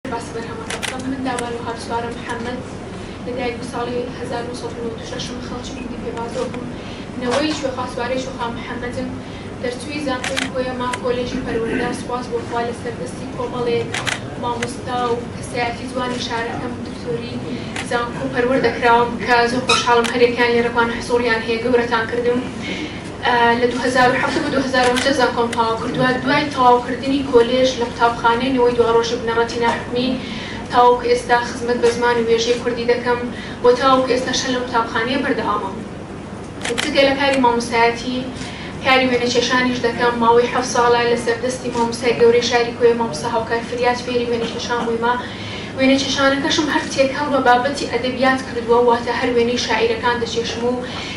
باسی بەرهەمەکە بکەم من دابان و هاپسوارە محەمەد لە دایک بوو ساڵی هەزار و نۆ سەد و نەوەد و شەش م خەڵکی گوندی پێبازۆ بووم نەوەی کوێخا سوارەی کوێخا محەمەدم دەرچووی زانکۆی کۆیە ما کۆلێژی پەروەردە سوپاس بۆ خوا لەسەر دەستی کۆمەڵێک مامۆستا و کەسایەتی جوانی شارەکەم دکتۆری زانکۆ پەروەردە کراوم کە زۆر خۆشحاڵم هەریەکەیان لێرەکوان حزوڕیان هەیە گەورەتان کردم لە دوو هەزار و حەڤدە بۆ دوو هەزار و هەژدە زانکۆم تەواو کردووە، دوای تەواو کردنی کۆلێژ لە قوتابخانەی نەوەی دواڕۆژی بنەڕەتی ناحکومی تاوەکو ئێستا خزمەت بە زمان و وێژەی کوردی دەکەم و تاوەکو ئێستاش هەر لەم قوتابخانەیە بەردەوامم جگە لە کاری مامۆستایەتی کاری وێنە کێشانیش دەکەم ماوەی حەفت ساڵە لەسەر دەستی مامۆستای گەورەی شاری کۆیە مامۆستا هاوکار فریاد فێری وێنە کێشان بوویمە وێنە کێشانەکەشم هەر تێکەڵ بە بابەتی ئەدەبیات کردووە واتە هەر وێنەی شاعیرەکان دەکێشم و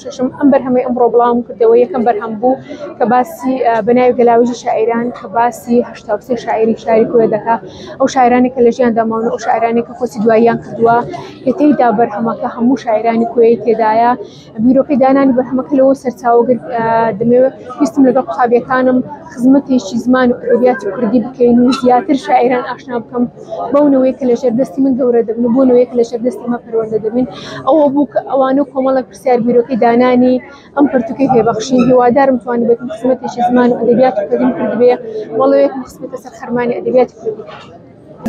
شەشەم، ئەم بەرهەمەی ئەمڕۆ بڵاوم کردەوە یەکەم بەرهەم بوو کە باسی بە ناوی گەلاویژی شاعیران کە باسی هەشتا و سێ شاعیری شاری کوێ دەکا ئەو شاعیرانی کە لە ژیاندا ماون و ئەو شاعیرانی کە کۆچی دواییان کردووە کە تێیدا بەرهەمەکە هەموو شاعیرانی کوێی تێدایە بیرۆکەی دانانی بەرهەمەکە لەوە سەرچاوە گرت دەمەوێت ویستم لەگەڵ قوتابیەکانم خزمەتێکی زمان و ئەدەبیاتی کوردی بکەین و زیاتر شاعیران ئاشنا بکەم بەو نەوەیە کە لە ژێر دەستی من گەورە دەبن و بۆ نەوەیە کە لە ژێر دەستی ئێمە پەروەردە دەبن ئەوە بوو کە ئەوانە و کۆمەڵێک پرسیار بیرۆکەی دانانی ئەم پەرتووکەی پێ بەخشین هیوادارم توانیبێتم خزمەتێکی زمان و ئەدەبیاتی کوردیم کردبێ بەڵێیەکم خستبێتە سەر خەرمانی ئەدەبیاتی کوردی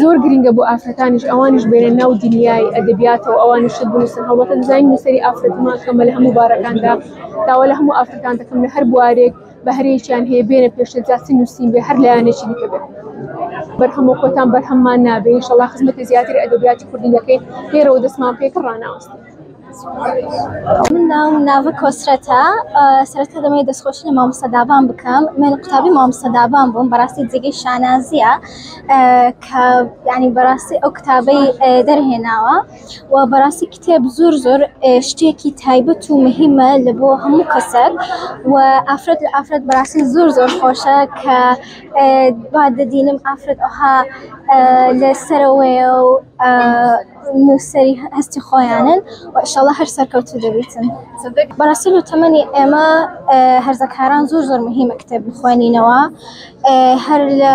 زۆر گرینگە بۆ ئافرەتانیش ئەوانیش بێنە ناو دنیای ئەدەبیاتەوە ئەوانیش شت بنووسن هەڵبەتە دەزانین نووسەری ئافرەتمان کەمە لە هەموو بارەکاندا داوا لە هەموو ئافرەتان دەکەم لە هەر بوارێک بەهرەیەکیان هەیە بێنە پێشتە جاچی نووسین بێ هەر لایەنێکی دیکە بێت بەرهەمە خۆتان بەرهەممان نابێ ئینشەڵا خزمەتی زیاتر ئەدەبیاتی کوردی دەکەین لێرەوە دەستمان پێکە ڕاناوەستین من ناوم ناوە کۆسرەتە سەرەتا دەمەوێت دەستخۆشی لە مامۆستا دابان بکەم من قوتابی مامۆستا دابان بووم بەڕاستی جێگەی شانازییە کە ینی بەڕاستی ئەو کتابەی دەرهێناوە و بەڕاستی کتێب زۆر زۆر شتێکی تایبەت و مهمە لە بۆ هەموو کەسەر و ئافرەت لە ئافرەت بەڕاستی زۆر زۆر خۆشە کە با دەدینم ئافرەت ئەها لەسەرەوەی و نووسری هەستی خۆیانن و ئیشەڵە هەر سەرکەوتو دەبیتن بەڕاستی لە تەمەنی ئێمە هەرزەکاران زۆر زۆر مهمە کتێب بخوێنینەوە. هەر لە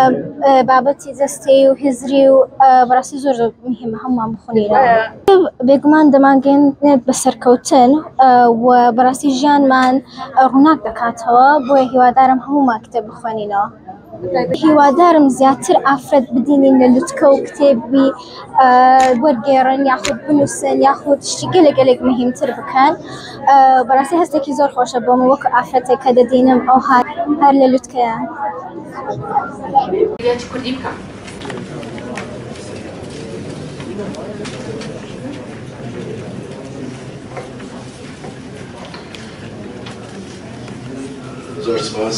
بابەتی جەستەی و هزری و بەڕاستی زۆر زۆر مهمە هەمووان بخونیرە بێگومان دەمانگەن نێت بە سەرکەوتن و بەڕاستی ژیانمان ڕووناک دەکاتەوە بۆیە هیوادارم هەموومان کتێب بخوێنینەوە هیوادارم زیاتر ئافرەت بدینین لە لوتکە و کتێبی وەرگێڕن یاخود بنووسن یاخود شتی گەلە گەلێک مهمتر بکەن بەڕاستی هەستێکی زۆر خۆشە بۆم وەک ئافرەتێک کە دەبینم ئەو هاات هەر لە لوتکەیە. زۆر سوپاس.